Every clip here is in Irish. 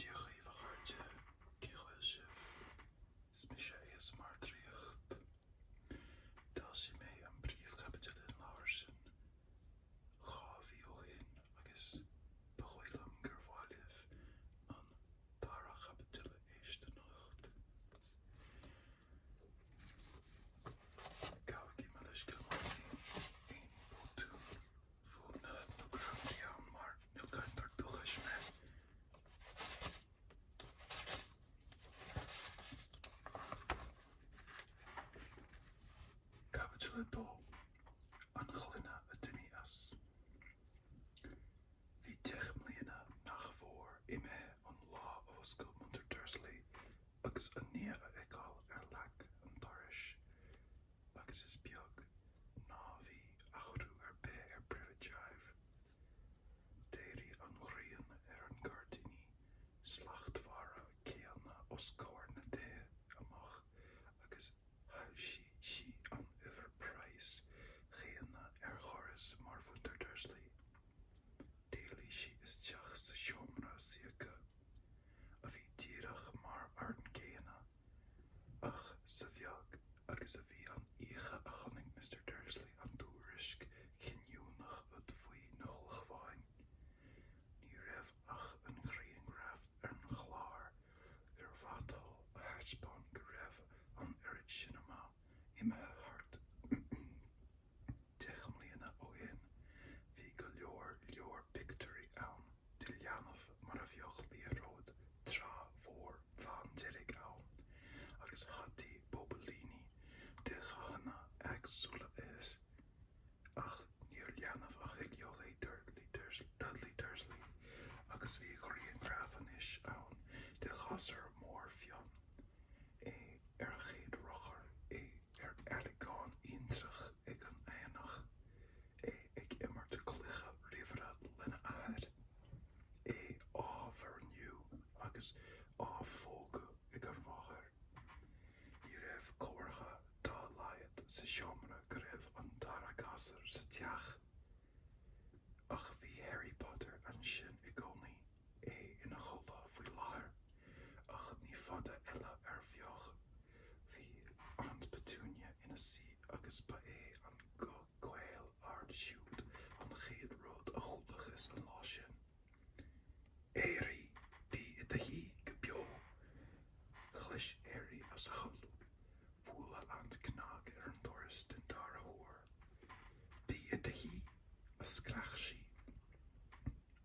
Dia dhaoibh a chairde, cén chaoi a bhfuil sibh? Is mise ASMR Draíocht. D'fhoilsigh mé an príomhchaibidil den leabhar sin dhá mhí ó shin agus ba dhóigh liom gur mhaith libh an dara caibidil a éist anocht. Gabhaigí mo leithscéal má bhíonn aon botún ann mar ní cainteoir dúchais mé. Caibidil 2. An ghloine a d'imigh as. Bhí deich mbliana nach mhór imithe ón lá a mhúscail muintir Dursley agus a nia a fheiceáil ar leac an dorais. agus is beag ná bhí athrú ar bith ar Privet Drive. D'éirigh an ghrian ar an gairdíní slachtmhara céanna os comhair na dtithe amach agus shoilsigh sí an uimhir práis chéanna ar dhoras mhuintir Dursley. D'éalaigh sí isteach sa seomra suí acu, a bhí díreach mar an gcéanna. Ach sa bheag agus a bhí an oíche a chonaic Mister Dursley an tuairisc chinniúnach úd faoi na hulchabháin, ní raibh ach an ghrianghraf ar an chlár an mhatail a thaispeáint go raibh an oiread sin ama. imithe thart. Deich mbliana ó shin bhí go leor leor pictiúirí ann de leanbh mar a bheadh liathróid trá mhór bhándearg ann agus hataí bobailíní de dhathanna éagsúla air. Ach níor leanbh a thuilleadh é Dudley Dursley agus bhí grianghraf anois ann de ghasúr mór fionn, é ar a chéad rothar, é ar áilleagán intreach ag an aonach, é ag imirt cluiche ríomhaire lena athair, é á mhuirniú agus á phógadh ag an mháthair. Ní raibh comhartha dá laghad sa seomra go raibh an dara gasúr sa teach, ach bhí Harry Potter ansin i gcónaí, é ina chodladh faoi láthair, ach ní fada eile a bheadh. Bhí Aunt Petunia ina suí agus ba é an guth caol ard siúd an chéad rud a chualathas an lá sin. Éirigh! Bí i do shuí go beo! Chlis Harry as a chodladh. Buaileadh an cnag ar an doras den dara huair. Bí i do shuí! a scréach sí.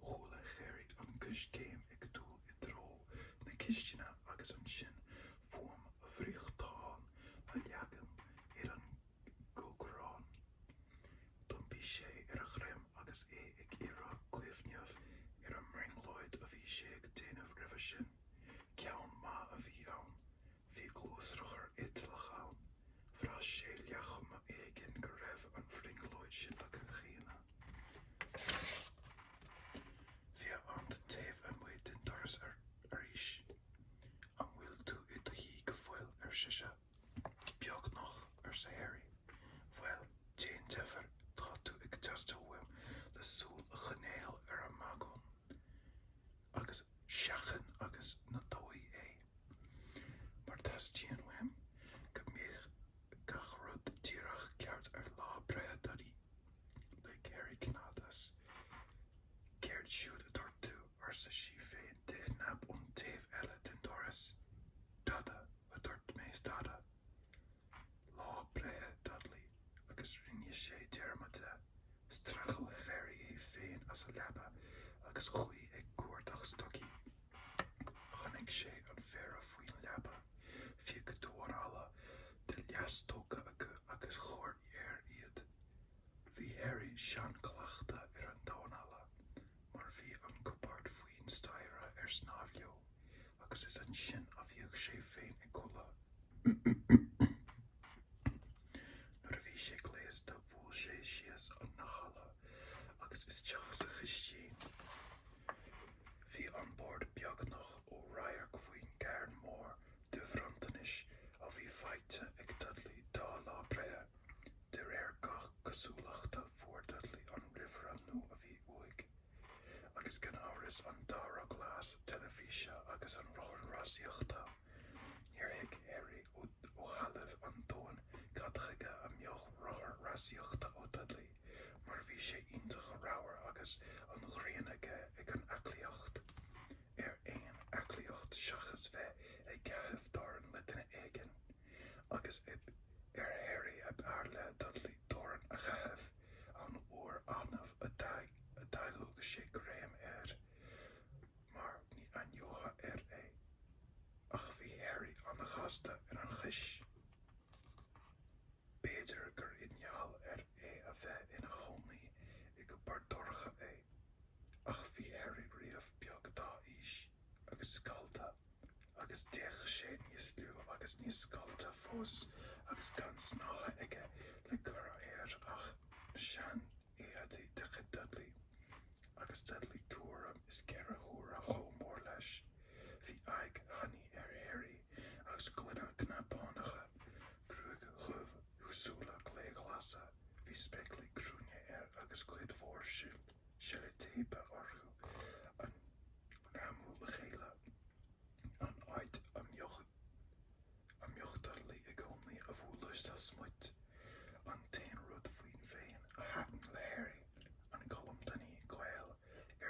Chuala Harry an coiscéim ag dul i dtreo na cistine agus ansin fuaim an fhriochtáin á leagan ar an gcócaireán. D'iompaigh sé ar a dhroim agus é ag iarraidh cuimhneamh ar an mbrionglóid a bhí sé ag déanamh roimhe sin. Ceann maith a bhí ann. Bhí gluaisrothar eitleach ann. Bhraith sé ar chuma éigin go raibh an bhrionglóid sin aige cheana. Bhí a aint taobh amuigh den doras arís. 'An bhfuil tú i do shuí go fóill? ar sise. Beagnach, arsa Harry. Bhuel, déan deifir, tá tú ag teastáil uaim le súil a choinneáil ar an mbagún. Agus seachain agus ná dóigh é. Mar teastaíonn uaim go mbeidh gach rud díreach ceart ar lá breithe Duddy. Lig Harry cnead as. Céard siúd a dúirt tú? arsa sí féin de chnap ón taobh eile den doras. Dada, a dúirt mé, dada. Lá breithe Dudley agus rinne sé dearmad de. Streachail Harry é féin as a leaba agus chuaigh ag cuardach stocaí. Tháinig sé ar phéire faoin leaba, phioc damhán alla de leathstoca acu agus chuir air iad. Bhí Harry seancleachta ar an damhán alla. mar bhí an cupard faoin staighre ar snámh leo agus is ansin a bhíodh sé féin ag codladh. Nuair a bhí sé gléasta bhuail sé síos an halla agus isteach sa chistín. Bhí an bord beagnach ó radharc faoin gcarn mór de bhronntanais a bhí faighte ag Dudley dá lá breithe. De réir gach cosúlachta fuair Dudley an ríomhaire nua a bhí uaidh, agus gan amhras an dara gléas teilifíse agus an rothar rásaíochta. Níor thuig Harry ó thalamh an domhain cad chuige a mbeadh rothar rásaíochta ó Dudley, mar bhí sé iontach ramhar agus an ghráin aige ar an aclaíocht, ar aon aclaíocht seachas bheith ag caitheamh dorn le duine éigin. agus b'ar Harry ab fhearr le Dudley dorn a chaitheamh an uair annamh a d'fhaigheadh sé greim air mar ní aithneofá air é. Ach bhí Harry an-ghasta ar a chois. B'fhéidir gur i ngeall ar é a bheith ina chónaí i gcupard dorcha é, ach bhí Harry riamh beag dá aois. agus scallta, agus d'fhéach sé níos lú agus níos scallta fós, agus gan snáithe aige le cur air ach seanéadaí de chuid Dudley, agus Dudley tuairim is ceithre huaire chomh mór leis. Bhí aghaidh thanaí ar Harry, agus glúine cnapánacha, gruaig dhubh, súile gléghlasa, bhí spéaclaí cruinne air agus cuid mhór silt. seilitéipe orthu, á ngreamú le chéile, an áit a mbíodh Dudley i gcónaí á bhualadh sa smut, an t-aon rud faoi féin a thaitin le Harry, an colm tanaí caol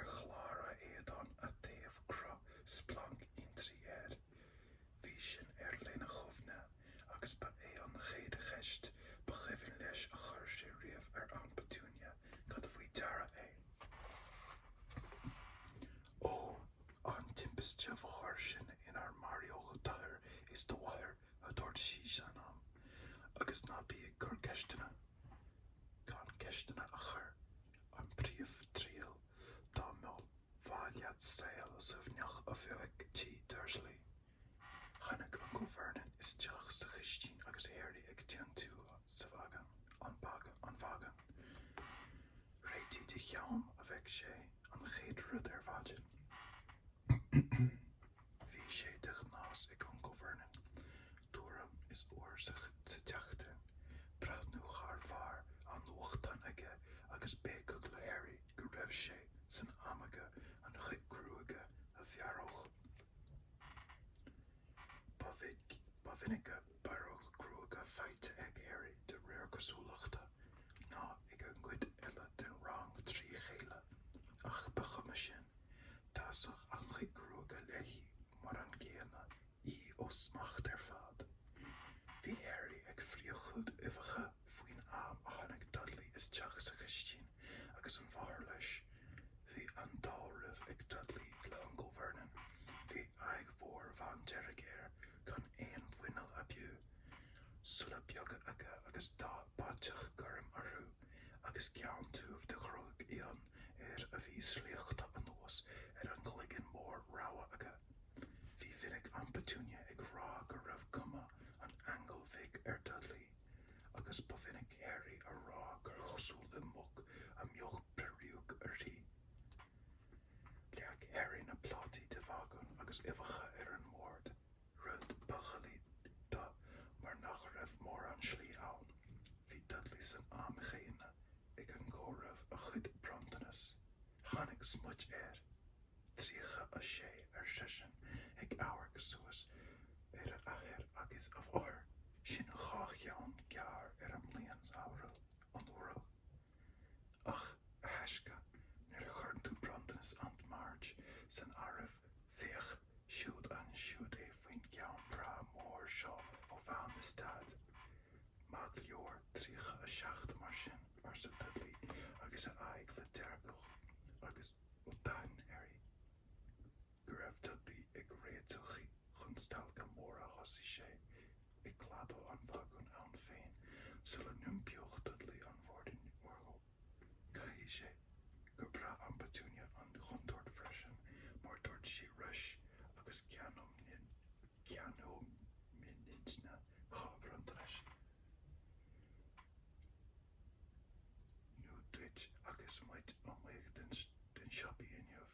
ar chlár a éadáin, a raibh cruth splanc thintrí air. Bhí sin air lena chuimhne agus ba é an chéad cheist ba chuimhin leis a chuir sé riamh ar Aunt Petunia cad faoi deara é. Ón timpiste bhóthair sin inar maraíodh d'athair is do mháthair, a dúirt sí san am, agus ná bí ag cur ceisteanna gan ceisteanna a chur. An phríomhriail, dá mba mhaith leat saol suaimhneach a bheith agat tigh Dursley. Tháinig Uncail Vernon isteach sa chistín agus Harry ag tiontú sa, an bhagúin. Réitigh do cheann a bhéic sé an chéad rud ar maidin. Bhí sé de ghnás ag Uncail Vernon, tuairim is uair sa tseachtain, breathnú thar bharr an nuachtáin aige agus béiceadh le Harry go raibh sé san am aige a chuid gruaige a bhearradh. Ba mhinice bearradh gruaige faighte ag Harry, de réir cosúlachta, ná ag an gcuid eile den rang trí chéile, ach ba chuma sin, D'fhásadh a chuid gruaige léi mar an gcéanna, í ó smacht ar fad. Bhí Harry ag friochadh uibheacha faoin am a tháinig Dudley isteach sa chistin agus a mháthair leis. Bhí an-dealramh ag Dudley le hUncail Vernon. Bhí aghaidh mhór bhándearg air, gan aon mhuineál ab fhiú, súile beaga aige agus dath báiteach gorm orthu, agus ceann tiubh de ghruaig fhionn. air a bhí slíoctha anuas ar an gcloigeann mór ramhar aige. Ba mhinic Aint Petunia ag rá go raibh cuma an aingil bhig ar Dudley, agus ba mhinic Harry á rá gur chosúil le muc a mbeadh peiriúic uirthi. Leag Harry na plátaí de bhagún agus uibheacha ar an mbord. Rud ba dhoiligh dó mar nach raibh mórán slí ann. Bhí Dudley san am céanna ag comhaireamh a chuid bronntanas. Tháinig smut air. 36, ar seisean, ag amharc suas ar a athair agus a mháthair. Sin dhá cheann gearr ar an mbliain-shamhradh, anuraidh. Ach, a thaisce, nuair a chuireann tú bronntanas Aint Marge san áireamh, féach siúd ansiúd é faoin gceann breá mór seo ó Mham is Daid. Maith go leor, 37 mar sin, arsa Dudley agus a aghaidh le deargadh, agus ó d'aithin Harry go raibh Dudley ag réiteach chun stailce móire thosaigh sé ag clabadh an bhagúin ann féin sula n-iompaíodh Dudley an bhoirdín orthu. Caithfidh sé gur bhraith Aint Petunia an chontúirt freisin, mar dúirt sí leis agus ceannóimid dhá bhronntanas nua duit agus muid amuigh sna siopaí inniu.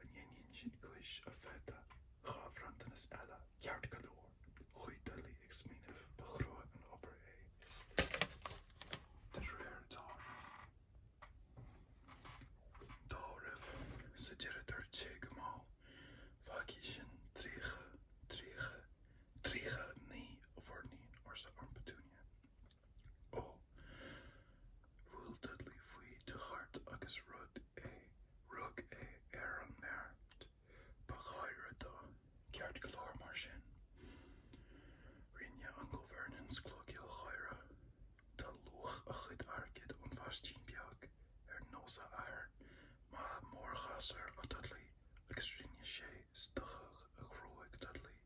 An ndéanfaidh sin cúis a pheata? Dhá bhronntanas eile, ceart go leor. Chuaigh Dudley ag smaoineamh. Ba chrua an obair é, de réir dealraimh. Dealraimh. Sa deireadh dúirt sé go mall, Fágfaidh sin tríocha, tríocha, tríocha a naoi, a mhuirnín, arsa Aint Petunia. Ó, bhuail Dudley faoi de thuairt agus rug é, rug é ar an mbeart ba ghaire dó. Ceart go leor mar sin, rinne Uncail Vernon sclogaíl gháire, tá luach a chuid airgid ón mhaistín beag ar nós a athar, maith mo ghasúr a Dudley, agus rinne sé stoitheadh a ghruaig Dudley.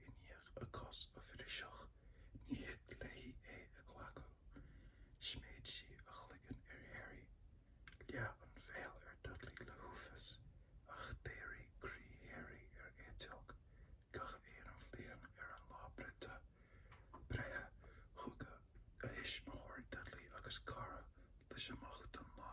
I ndiaidh a cos a bhriseadh, ní thig léi é a ghlacadh. Sméid sí a chloigeann ar Harry. Leath a bhéal ar Dudley le huafás, ach d'éirigh croí Harry ar eiteog. Gach aon bhliain ar an lá breithe, thugadh a thuismitheoir Dudley agus cara leis amach don lá.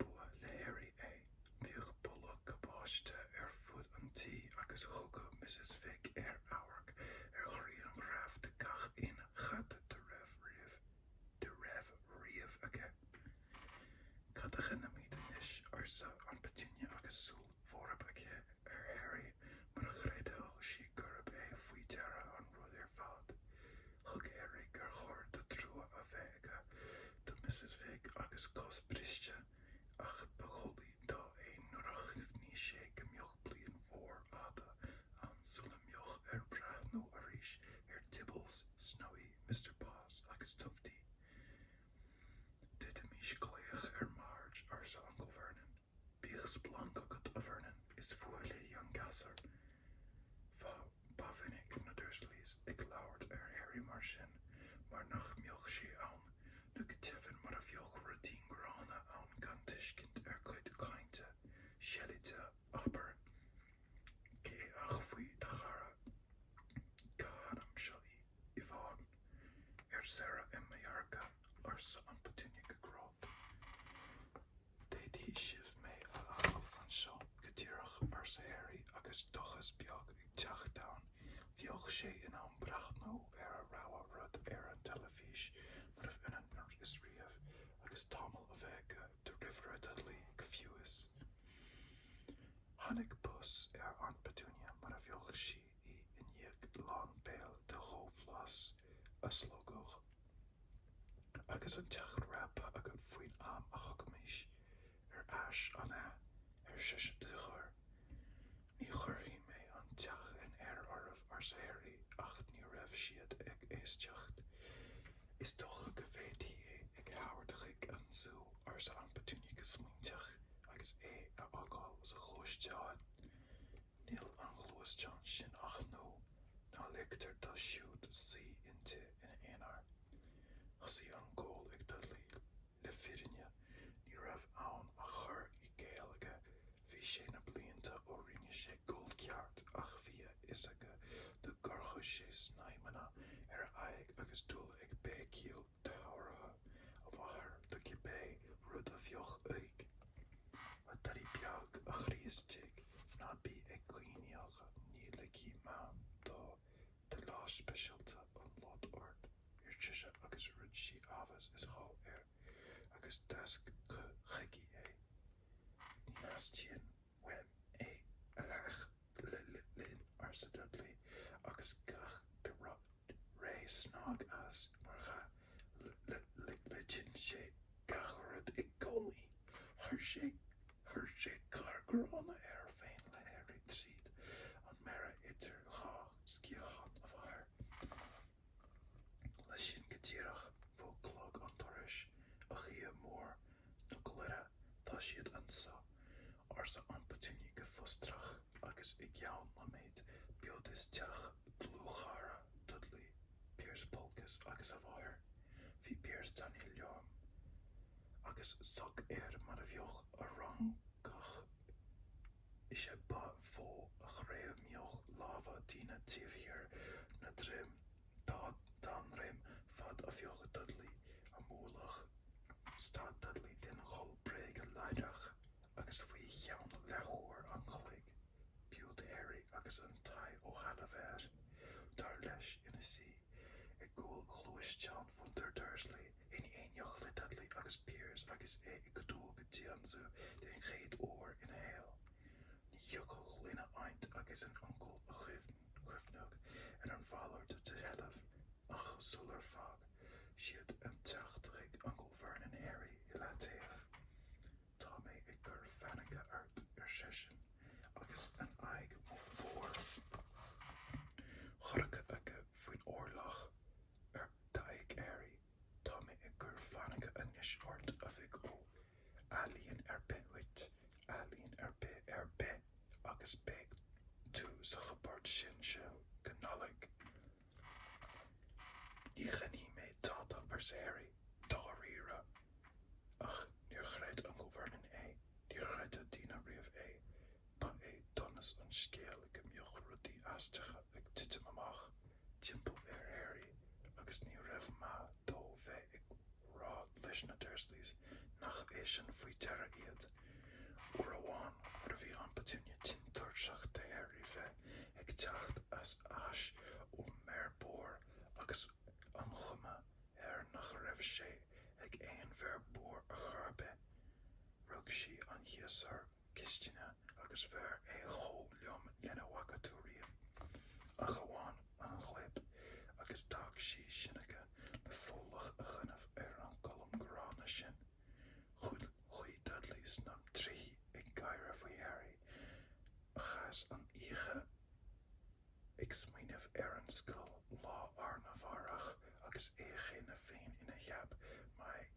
B'fhuath le Harry é. Bhíodh boladh cabáiste ar fud an tí agus thugadh Missus Figg air amharc ar ghrianghraif de gach aon chat dá raibh riamh aici. 'Cad a dhéanfaimid anois? arsa Aint Petunia agus súil bhorb aici ar Harry mar a chreidfeadh sí gurb é faoi deara an rud ar fad. Thuig Harry gur chóir dó trua a bheith aige do Mrs Figg agus a cos briste, ach ba dhoiligh dó é nuair a chuimhnigh sé go mbeadh bliain mhór fhada ann sula mbeadh air breathnú arís ar Tibbles, Snowy, Mister Paws agus Tufty. D'fhéadfaimís glaoch ar Marge, arsa Uncail Vernon. Bíodh splanc agat, a Vernon, is fuath léi an gasúr. Bha, ba mhinic na Dursleys ag labhairt ar Harry mar sin, mar nach mbeadh sé ann, nó go deimhin mar a bheadh ruidín gránna ann gan tuiscint ar cuid cainte seilide, abair. Céard faoi do chara. Cá hainm seo í? Yvonne? Ar saoire i Mallarca, arsa Aint Petunia go grod. D'fhéadfadh sibh mé a fhágáil anseo go díreach, arsa Harry agus dóchas beag ag teacht ann. Bheadh sé in ann breathnú ar a rogha rud ar an teilifís murarbh ionann is riamh agus tamall a bheith aige de ríomhaire Dudley go fiú is. Tháinig pus ar Aint Petunia mar a bheadh sí. i ndiaidh lán béil de dhomlas a slogadh, agus an teach réabtha agat faoin am a thiocfaimis ar ais, an ea? ar sise de chor. Ní chuirfidh mé an teach in aer oraibh, arsa Harry, ach ní raibh siad ag éisteacht. Is dócha go bhféadfaí é a thabhairt chuig an zú, arsa Aint Petunia go smaointeach, agus é a fhágáil sa ghluaisteán. Níl an ghluaisteán sin ach nua, ná ligtear dó siúd suí inti ina aonar. Thosaigh an gol ag Dudley, le fírinne ní raibh ann ach cur i gcéill aige, bhí sé na blianta ó rinne sé gol ceart ach bhí a fhios aige dá gcuirfeadh sé snaidhmeanna ar a aghaidh agus dul ag béicíl. go dtabharfadh a mháthair dó cibé rud a bheadh uaidh, mo Dhudaí beag, a chroí istigh, ná bí ag caoineadh, ní ligfidh Mam dó do lá speisialta a lot ort, ar sise, agus rug sí abhus is thall air, agus d'fháisc chuici é. Ní theastaíonn uaim é a theacht l-linn arsa Dudley agus gach re snag as mar dhea loiteann sé gach rud i gcónaí. Chuir sé chuir sé cár gránna air féin le Harry tríd an mbearna idir dhá sciathán a mháthar. Leis sin go díreach bhuail clog an dorais. A Dhia Mór na Glóire, tá siad anseo! arsa Aint Petunia go fustrach, agus i gceann nóiméid b'sheo isteach dlúthchara Dudley, Piers Polkiss, agus a mháthair, bhí Piers tanaí lom, agus soc air mar a bheadh ar fhrancach. Is é ba mhó a ghreamaíodh lámha daoine taobh thiar na droim dá ndroim fad a bhíodh Dudley á mbualadh. Stad Dudley den ghol bréige láithreach agus faoi cheann leathuair an chloig b'iúd Harry agus an t-ádh ó thalamh air, dar leis, ina suí i gcúl ghluaisteán mhuintir Dursley. in éineacht le Dudley agus Piers agus é ag dul go dtí an zú den chéad uair ina shaol. Ní thiocfadh lena aint agus a uncail cuimhneamh ar a mhalairt de sheilbh ach sular fág siad an teach thug Uncail Vernon Harry i leataobh. Tá mé ag cur fainice ort, ar seisean agus an aghaidh mhór chorcra aige faoin orlach ar d'aghaidh Harry, tá mé ag cur fainice anois ort, a mhic ó. Ealaíon ar bith uait, ealaíon ar bith ar bith, agus beidh tú sa chupard sin as seo go Nollaig. Ní dhéanfaidh mé tada, arsa Harry, dáiríre. Ach níor chreid Uncail Vernon é, níor chreid aon duine riamh é. Ba é donas an scéil go mbíodh rudaí aisteacha ag titim amach timpeall ar Harry agus ní raibh maith dó bheith ag rá leis na Dursleys nach eisean faoi deara iad. Uair amháin nuair a bhí Aint Petunia tinn tuirseach de Harry bheith ag teacht ar ais ón mbearbóir agus an chuma air nach raibh sé ag aon bhearbóir ar chor ar bith, rug sí ar shiosúr cistine agus bhearr é chomh lom lena bhfaca tú riamh, ach amháin an ghlib, agus d'fhág sí sin aige le folach a dhéanamh ar an gcolm gránna sin. Chuaigh Dudley sna trithí ag gáire faoi Harry, a chaith an oíche ag smaoineamh ar an scoil lá arna mhárach agus é cheana féin ina cheap magaidh.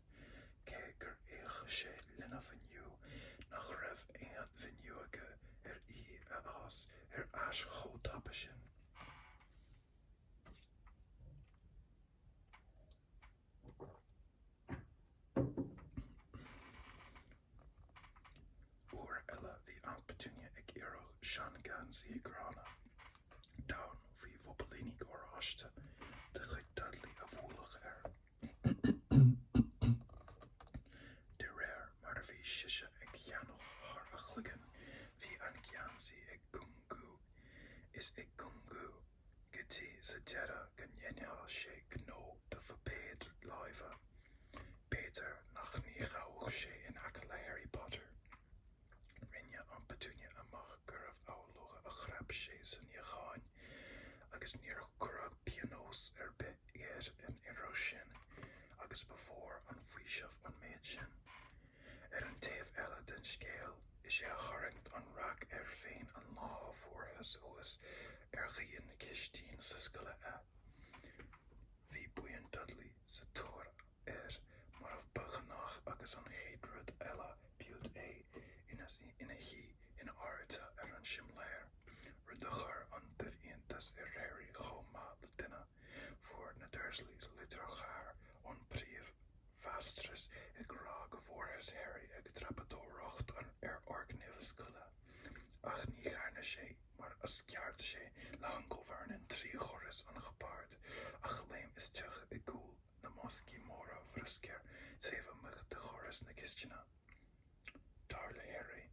cé gur fhéach sé lena mhíniú nach raibh aon mhíniú aige ar í a fhás ar ais chomh tapa sin. Uair eile bhí Aunt Petunia ag iarraidh seangheansaí gránna donn faoi bhobailíní oráiste de chuid Dudley a bhualadh air. De réir mar a bhí sise á theannadh thar a chloigeann, bhí an geansaí ag cúngú is ag cúngú, go dtí sa deireadh go ndéanfadh sé gnó do phuipéad láimhe. B'fhéidir ach ní ghabhfadh sé in aice le Harry Potter. Rinne Aunt Petunia amach gurbh amhlaidh a chrap sé sa níochán, agus níor cuireadh pionós ar bith air an iarraidh sin, agus ba mhór an faoiseamh an méid sin. Ar an taobh eile den scéal, is é a tharraing an raic air féin an lá a fuarthas thuas ar dhíon cistine na scoile é. Bhí buíon Dudley sa tóir air mar ba ghnách agus an chéad rud eile b'iúd é ina shuí in airde ar an simléar, rud a chuir an dubh-iontas ar Harry chomh maith le duine. Fuair na Dursleys litir ghéar ón bpríomh-mháistreás ag rá go bhfuarthas Harry ag dreapadóireacht ar fhoirgnimh na scoile, ach ní dhearna sé mar a sceart sé le hUncle Vernon trí dhoras an chupaird ach léim isteach i gcúl. na mboscaí móra bruscair taobh amuigh de dhoras na cisteanach. Dar le Harry,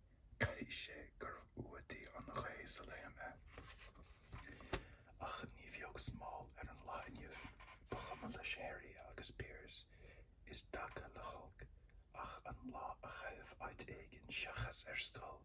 caithfidh sé gur fhuadaigh an ghaoth sa léim é. Ach ní bheadh smál ar an lá inniu, ba chuma leis Harry agus Piers i dtaca le holc ach an lá a chaitheamh áit éigin seachas ar scoil.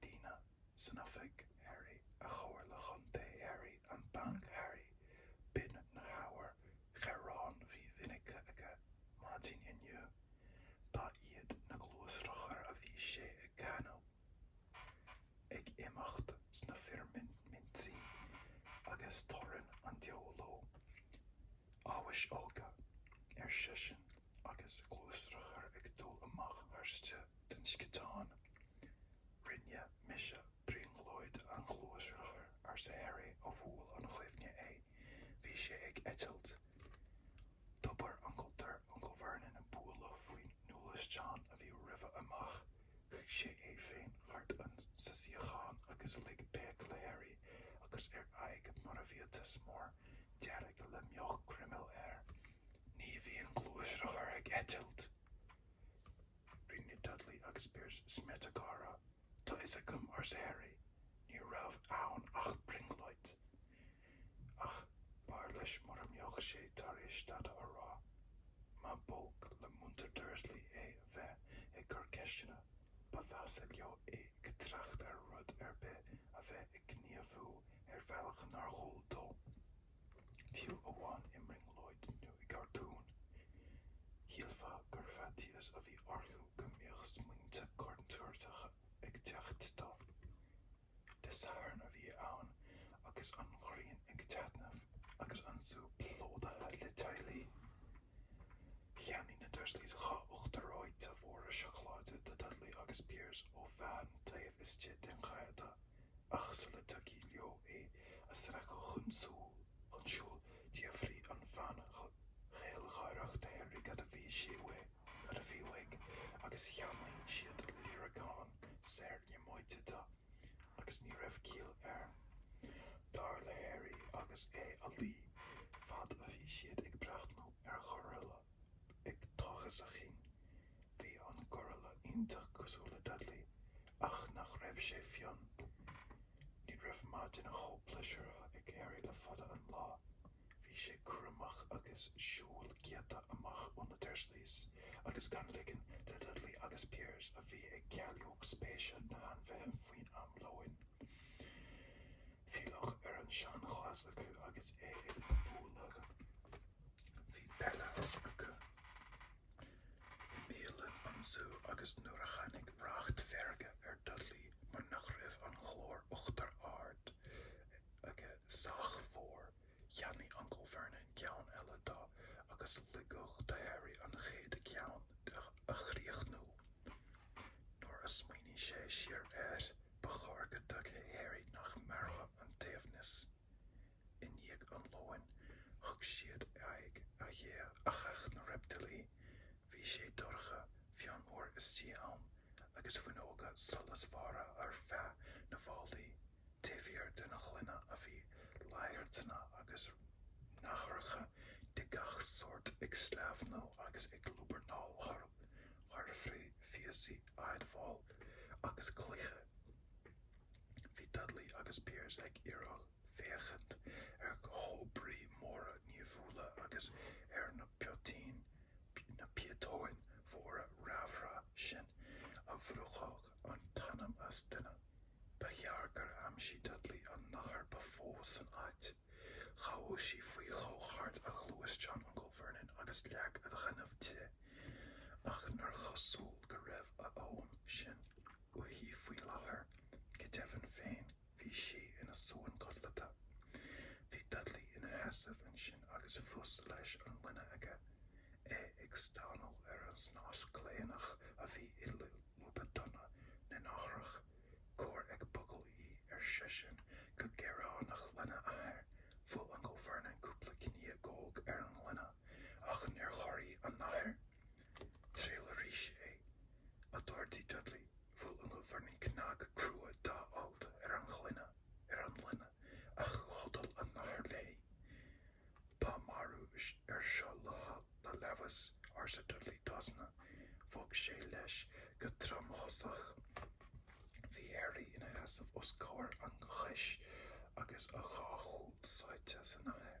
Daoine san Oifig Harry, an Chomhairle Chontae Harry, an Banc Harry, b'in na hábhair ghearáin ba mhinice aige maidin inniu. Ba iad na gluaisrothair a bhí sé ag cáineadh. Ag imeacht sna firmimintí agus torann an diabhail leo amhais óga, ar seisean, agus gluaisrothar ag dul amach tharstu de sciotán. Rinne mise brionglóid ar ghluaisrothar, arsa Harry, a bhuail an chuimhne é. Bhí sé ag eitilt. Dóbair Uncail Dirk Uncail Vernon ag bualadh faoin ngluaisteán a bhí roimhe amach. Shuigh sé é féin thart sa suíochán agus lig béic le Harry agus a aghaidh mar bhiatas mór dearg a mbeadh croiméal air. Ní bhíonn gluaisrothair ag eitilt! Rinne Dudley agus Piers smiota gáire. Tá a fhios agam, arsa Harry. Ní raibh ann ach brionglóid. Ach b'fhearr leis mura mbeadh sé tar éis dada a rá. Má b'olc le muintir Dursley é bheith ag cur ceisteanna, ba mheasa leo é ag trácht ar rud ar bith a bheith ag gníomhú ar bhealach nár dhual dó. Fiú amháin i mbrionglóid nó i gcartún, shílfeá gur faitíos a bhí orthu go mbíodh smaointe contúirteacha ag teacht dó. Dé Sathairn a bhí ann agus an ghrian ag taitneamh agus an zú plódaithe le teaghlaigh. Cheannaigh na Dursleys dhá uachtar reoite mhóra seacláide do Dudley agus Piers ó bhean taobh istigh den gheata. ach sula dtiocfadh leo é a sracadh chun siúil, d'fhiafraigh an bhean ghealgháireach de Harry cad a bhí sé uaidh, cad a bhí uaidh, agus cheannaigh siad líreacán saor líomóide dó, agus ní raibh caill air, dar le Harry, agus é á lí, fad a bhí siad ag breathnú ar ghoraille, ag tochas a chinn. Bhí an Goraille iontach cosúil le Dudley, ach nach raibh sé fionn? Ní raibh maidin chomh pléisiúrtha ag Harry le fada an lá. Bhí sé cúramach agus siúl giota amach ó na Dursleys agus gan ligean le Dudley agus Piers, a bhí ag cailleadh spéise sna hainmhithe faoin am lóin, filleadh ar an seanchleas acu agus é a bhualadh. Bhí béile acu i mbialann an Zú agus nuair a tháinig racht feirge ar Dudley mar nach raibh an ghlóir uachtair ard aige sách mhór, cheannaigh Uncail Vernon ceann eile dó agus ligeadh do Harry an chéad cheann a chríochnú. Nuair a smaoinigh sé siar air, ba chóir go dtuigfeadh Harry nach mairfeadh an t-aoibhneas. I ndiaidh an lóin, thug siad aghaidh ar theach na reiptílí. Bhí sé dorcha, fionnuar istigh ann, agus fuinneoga solasmhara ar feadh na bhfallaí taobh thiar den ghloine a bhí laghairteanna agus nathracha de gach sórt ag sleamhnú agus ag lúbarnaíl thar, thar phíosaí adhmaid agus cloiche. Bhí Dudley agus Piers ag iarraidh féachaint ar chobraí móra nimhiúla agus ar na piotaín, na píotóin, mhóra raimhre sin a bhrúfadh an t-anam as duine. Ba ghearr gur aimsigh Dudley an nathair ba mhó san áit. Ghabhfadh sí faoi dhó thart ar ghluaisteán Uncail Vernon agus leac a dhéanamh di. Ach níor chosúil go raibh a fhonn sin. uirthi faoi láthair, go deimhin féin bhí sí ina suan codlata. Bhí Dudley ina sheasamh ansin agus a phus leis an ngloine aige, é ag stánadh ar an snas gléineach a bhí i lúba donna na nathrach. Cuir ag bogadh í, ar seisean go gearánach lena athair. Bhuail Uncail Vernon cúpla cniogóg ar an ngloine, ach níor chorraigh an nathair. Triail arís é. a d'ordaigh Dudley, bhuail Uncail Vernon cnag crua dá alt ar an ghloine, ar an ngloine, ach chodail an nathair léi. Tá marú air seo le le leamhas, arsa Dudley d'osna, bhog sé leis go tromchosach. Bhí Harry ina sheasamh os comhair an cháis agus a dhá shúil sáite sa nathair.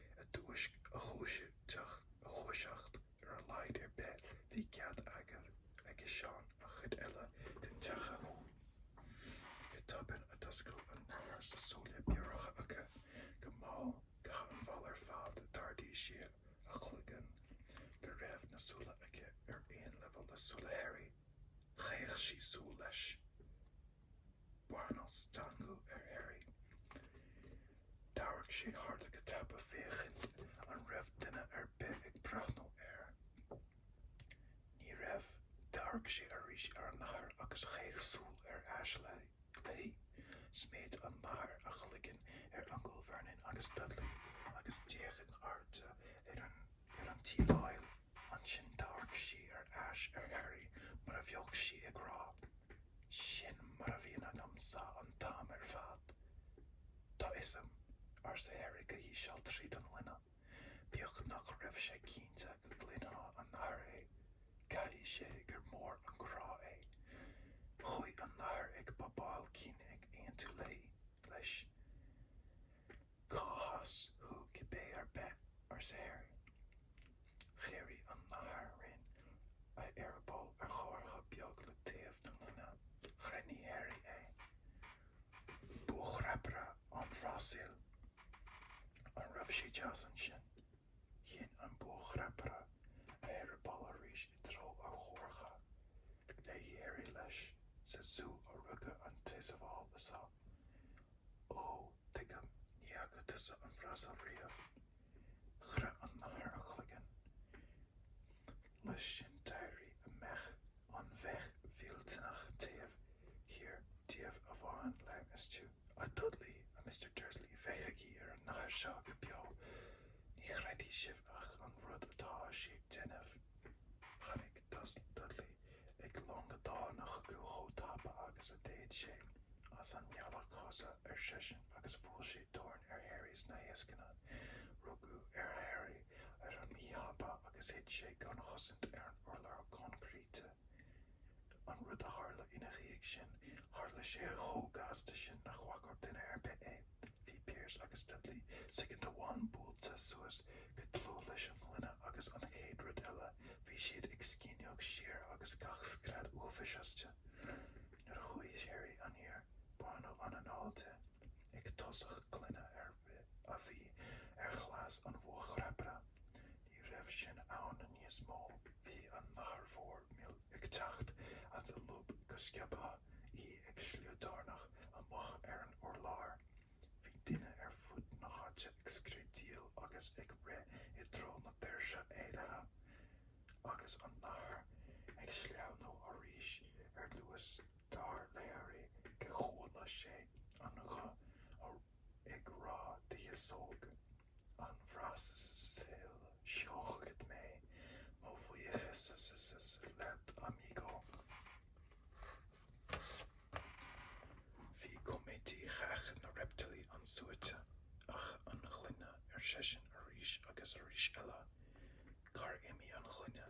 a dúisc, a dhúiseacht, ar a laghad ar bith, bhí cead aige, aigesean an chuid eile den teach a shiúl. Go tobann a d'oscail an nathair na súile bioracha aici. Go mall, go han-mhall ar fad, d'ardaigh sí a chloigeann go raibh na súile aici ar aon leibhéal le súile Harry. Chaoch sí súil leis. Baineadh stangadh ar Harry. D'amharc sé thart go tapa féachaint an raibh duine ar bith ag breathnú air. Ní raibh. D'amharc sé arís ar an nathair agus chaoch súil ar ais léi. Sméid an nathair a chloigeann ar Uncail Vernon agus Dudley agus d'fhéach in airde ar an tsíleáil. Ansin d'amharc sí ar ais ar Harry mar a bheadh sí ag rá, 'Sin mar a bhíonn agam-sa an t-am ar fad. 'Tá 'fhios a'm, arsa Harry go híseal tríd an ngloine, bíodh nach raibh sé cinnte go gcluinfeadh an nathair é. 'Caithfidh sé gur mór an crá é. Chuaigh an nathair ag bobáil cinn ag aontú léi, leis. Cá has thú cibé ar bith? arsa Harry. Dhírigh an nathair rinn a eireaball ar chomhartha beag le taobh na gloine. Ghrinnigh Harry é. Buachrapaire ón Bhrasaíl. An raibh sé deas ansin? Shín an buachrapaire a eireaball arís i dtreo an chomhartha. Léigh Harry leis sa zú a rugadh an t-eiseamal seo. Ó, tuigim, ní fhaca tusa an Bhrasaíl riamh. Chroith an nathair a cloigeann. Leis sin d'éirigh an bhéic, an bhéic mhillteanach taobh thiar díobh a bhain léim astu. A Dudley, a Mr. Dursley, féachaigí ar an nathair seo go beo, ní chreidfidh sibh ach an rud atá sí ag déanamh. Tháinig Dud Dudley ag longadán chucu chomh tapa agus a d'fhéad sé. As an mbealach thusa, ar seisean, agus bhuail sé dorn ar Harry sna heasnacha. Rugadh ar Harry ar an míthapa agus thit sé gan chosaint ar an urlár coincreíte. An rud a tharla ina dhiaidh sin, tharla sé chomh gasta sin nach bhfaca duine ar bith é. Bhí Piers agus Dudley soicind amháin buailte suas go dlúth leis an ngloine agus an chéad rud eile bhí siad ag scinneadh siar agus gach scread uafáis astu. Nuair a shuigh Harry aniar baineadh an anáil de, an tosach gloine a bhí ar chlós an bhuachrapaire. Ní raibh sin ann níos mó, bhí an nathair mhór mhil ag teacht as a lúb go sciobtha, í ag sliodarnach amach ar an urlár. Bhí daoine ar fud na háite ag screadaíl agus ag rith i dtreo na ndoirse éalaithe, agus an nathair ag sleamhnú thairis ar luas dar le Harry gur chuala sé an guth ag rá de shiosóg. an Bhrasaíl, seo chugat mé mo bhuíochas leat amigo. Bhí coimeádaí Theach na Reiptílí an-suaite. Ach an ghloine, ar seisean arís agus arís eile. Cár imigh an ghloine?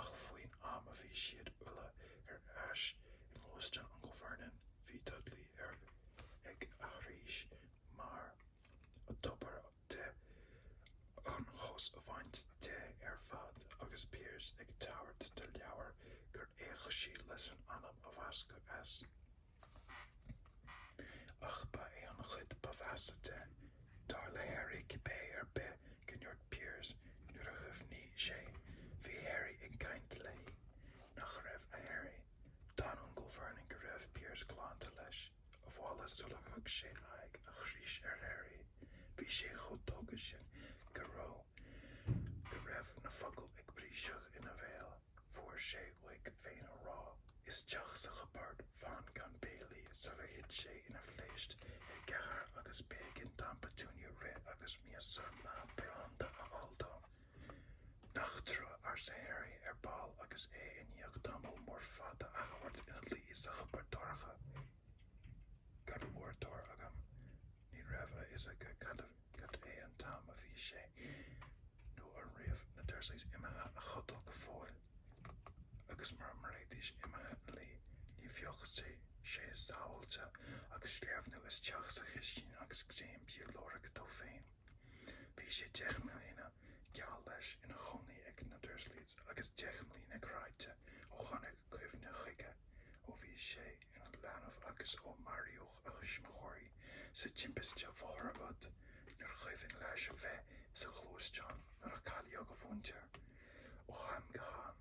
Ach faoin am a bhí siad uile ar ais i ngluaisteán Uncail Vernon, bhí Dudley ar ag aithris mar a dóbair di an chos a bhaint de ar fad, agus Piers ag tabhairt an leabhair gur fhéach sí leis an anam a bhascadh as. Ach ba é an chuid ba mheasa de, dar le Harry cibé ar bith, go ndúirt Piers, nuair a shuaimhnigh sé, bhí Harry ag caint léi, nach raibh, a Harry. D'fhan Uncail Vernon go raibh Piers glanta leis abhaile sular thug sé aghaidh a chraois ar Harry. Bhí sé chomh tógtha sin go raibh go raibh na focail ag briseadh ina bhéal. Fuair sé uaidh féin a rá isteach sa chupard fan gan béilí sular thit sé ina phléist i gcathaoir agus b'éigean d'Aint Petunia rith agus miosúr maith branda a fháil dó. Nach trua, arsa Harry ar ball agus é i ndiaidh tamall mór fada a thabhairt ina luí sa chupard dorcha, gan uaireadóir agam. Ní raibh a fhios aige cad é an t-am a bhí sé, nó an raibh na Dursleys imithe a chodail go fóill, agus mura mbeidís imithe a luí, ní bheadh sé sábháilte, agus sleamhnú isteach sa chistin agus greim bia a lorg dó féin. Bhí sé deich mbliana, geall leis, ina chónaí ag na Dursleys, agus deich mbliana cráite ó tháinig cuimhne chuige, ó bhí sé ina leanbh agus ó maraíodh. a thuismitheoirí sa timpiste bhóthair úd, níor chuimhin leis a bheith sa ghluaisteán nuair a cailleadh a mhuintir. Ó am go ham,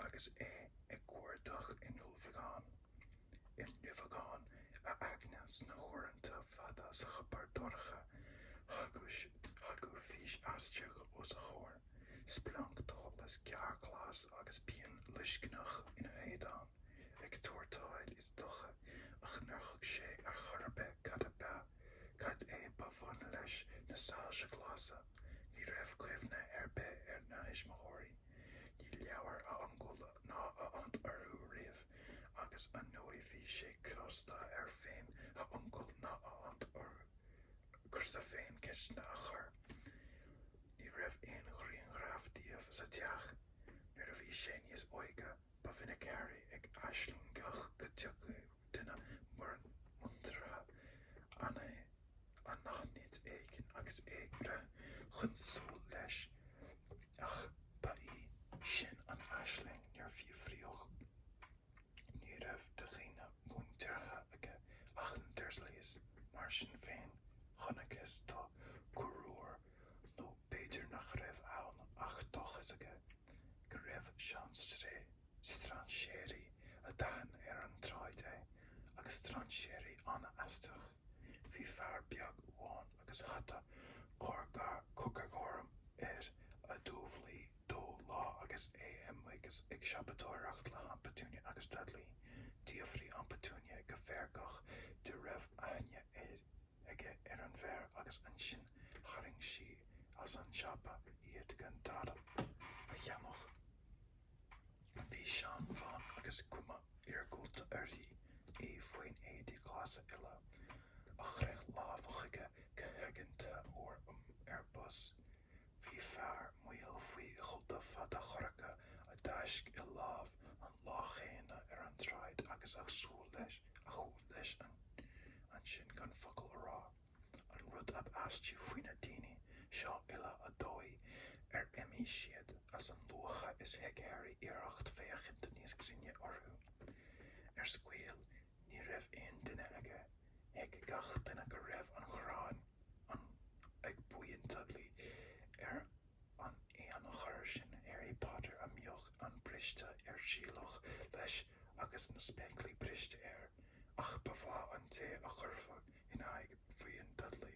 agus é ag cuardach i nduibheagán i nduibheagán a aigne sna huaireanta fada sa chupard dorcha, thagadh fís aisteach os a chomhair, splanc de sholas géar glas agus pian loiscneach ina héadan an tuairteáil is dócha, ach nár thuig sé ar chor ar bith cad ab ea, cad é ba bhun leis na soilse glasa. Ní raibh cuimhne ar bith ar a thuismitheoirí. Níor labhair a uncail ná a aint orthu riamh, agus ar ndóigh bhí sé crosta air féin a uncail ná a aint orthu crosta féin ceisteanna a chur. Ní raibh aon ghrianghraf díobh sa teach nuair a bhí sé níos óige. Ba mhinic Harry ag aislingeacht go dtiocfadh duine muirn muinteartha anaithnid éigin agus é a bhreith chun siúil leis, ach ba í sin an aisling nár fíoraíodh. Ní raibh de dhaoine muinteartha aige ach na Dursleys. Mar sin féin, chonacthas dó corruair nó b'fhéidir nach raibh ann ach dóchas aige go raibh strainséirí a d'aithin ar an tsráid é, agus strainséirí an-aisteach, bhí fear beag amháin agus hata corcairghorm air a d'umhlaigh dó lá agus é amuigh ag siopadóireacht le hAint Petunia agus Dudley, d'fhiafraigh Aint Petunia go feargach de an raibh aithne air. aige ar an bhfear agus ansin tharraing sí as an siopa iad gan dada a cheannach. Bhí seanbhean agus cuma iargúlta uirthi í faoi éadaí glasa uile a chroith lámha chuige go haigeanta uair um ar bus Bhí fear maol faoi chóta fada chorcra a d'fháisc a láimh an lá cheana ar an tsráid agus a shiúil leis a shiúil leis ansin gan focal a rá. An rud ab aistí faoi na daoine seo uile an dóigh ar imigh siad as a luaithe is thug Harry iarracht féachaint níos grinne orthu. Ar scoil Ní raibh aon duine aige. Thuig gach duine go raibh an ghráin ag buíon Dudley ar an éan corr sin Harry Potter a mbíodh an bríste ar sileadh leis agus na spéaclaí briste air, ach ba mhaith an té a chuirfeadh in aghaidh bhuíon Dudley.